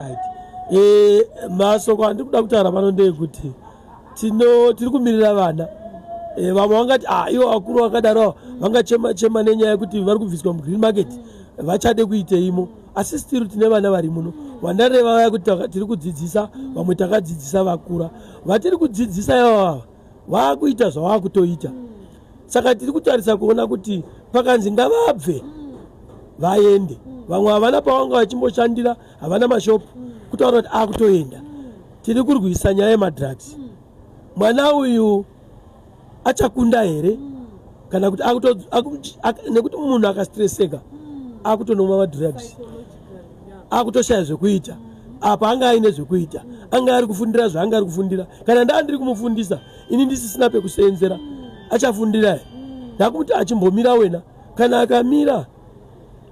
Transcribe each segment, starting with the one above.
Eh, masoko andiri kuda kutaura pano ndeyekuti tino tiri kumirira vana eh, vamwe vangati ah, ivo vakuru vakadaro vangachema chema nenyaya yekuti vari kubviswa mugreen market vachade kuiteimo asi stiru tine vana vari muno vandareva vaya kuti tiri kudzidzisa vamwe takadzidzisa vakura vatiri kudzidzisa ivavava vaakuita zvavaakutoita saka tiri kutarisa kuona kuti pakanzi ngavabve vaende vamwe havana pavanga vachimboshandira havana mashop kutaura kuti akutoenda tiri kurwisa nyaya yemadrugs mwana uyu achakunda here kana kuti nekuti munhu akastreseka akutonomwa madrugs akutoshaya zvekuita apa anga aine zvekuita anga ari kufundira zvaanga ari kufundira kana ndaa ndiri kumufundisa ini ndisisina pekuseenzera achafundira he ndakumuti achimbomira wena kana akamira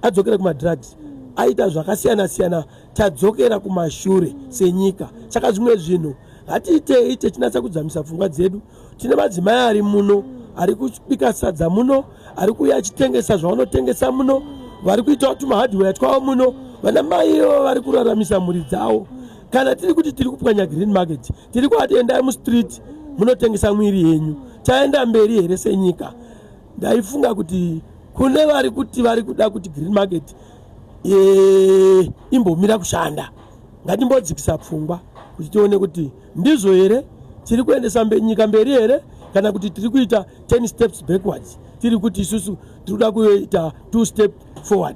adzokere kumadrugs aita zvakasiyana siyana tadzokera kumashure senyika saka zvimwe zvinhu hatiitei techinatsa kudzamisa pfungwa dzedu tine madzimai ari muno ari kubika sadza muno ari kuuya achitengesa zvavanotengesa muno vari kuitawo tumahardware twavo muno vana mai ivo vari kuraramisa mhuri dzavo kana tiri kuti tiri kupwanya green market tiri kuati endai mustreet munotengesa mwiri yenyu taenda mberi here senyika ndaifunga kuti kune vari kuti vari kuda kuti green market e, imbomira kushanda ngatimbodzikisa pfungwa kuti tione kuti ndizvo here tiri kuendesa mbe, nyika mberi here kana kuti tiri kuita 10 steps backwards tiri kuti isusu tiri kuda kuita two step forward